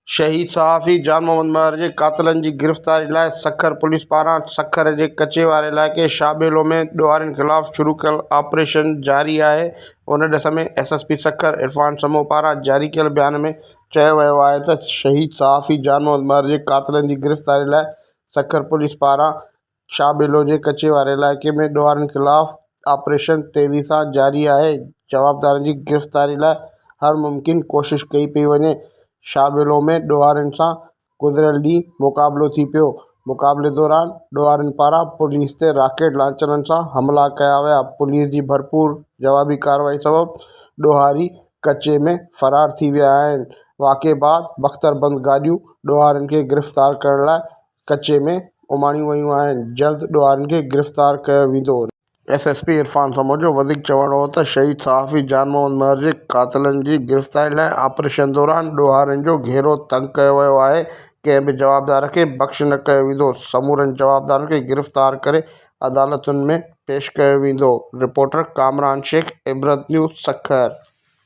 شهيد صحافي جان محمد مهر جي قاتلن جي گرفتاري لاء سکر پوليس پاران سکر جي ڪچي واري علائقي شاهٻيلو ۾ ڏوهارين خلاف شروع ڪيل آپريشن جاري آهي ان ڏس ۾ S S P Sukkur Irfan Samoon پاران جاري ڪيل بيان ۾ چيو ويو آهي ته شهيد صحافي جان محمد مهر جي قاتلن جي گرفتاري لاء سکر پوليس پاران شاهه ٻيلو جي ڪچي واري علائقي ۾ ڏوهارين خلاف آپريشن تيزي سان جاري آهي، جوابدارن جي گرفتاري لاء هر ممڪن ڪوشش ڪئي پئي وڃي، شاهه ٻيلو ۾ ڏوهارين سان گذريل ڏينهن مقابلو ٿي پيو، مقابلي دوران ڏوهارين پاران پوليس تي راڪيٽ لانچرن سان حملا ڪيا ويا، پوليس جي ڀرپور جوابي ڪارروائي سبب ڏوهاري ڪچي ۾ فرار ٿي ويا آهن، واقعي بعد بختربند گاڏيون ڏوهارين کي گرفتار ڪرڻ لاء ڪچي ۾ اماڻيون ويون آهن، جلد ڏوهارين کي گرفتار ڪيو ويندو. ايس ايس پي عرفان سموجو وڌيڪ چوڻ هو ته شهيد صحافي جان محمد مهر جي قاتلن جي گرفتاري لاء آپريشن دوران ڏوهارين جو گهيرو تنگ ڪيو ويو آهي ڪنهن به جوابدار کي بخش نه ڪيو ويندو سمورن جوابدارن کي گرفتار ڪري عدالتن ۾ پيش ڪيو ويندو رپورٽر ڪامران شيخ عبرت نيوز سکر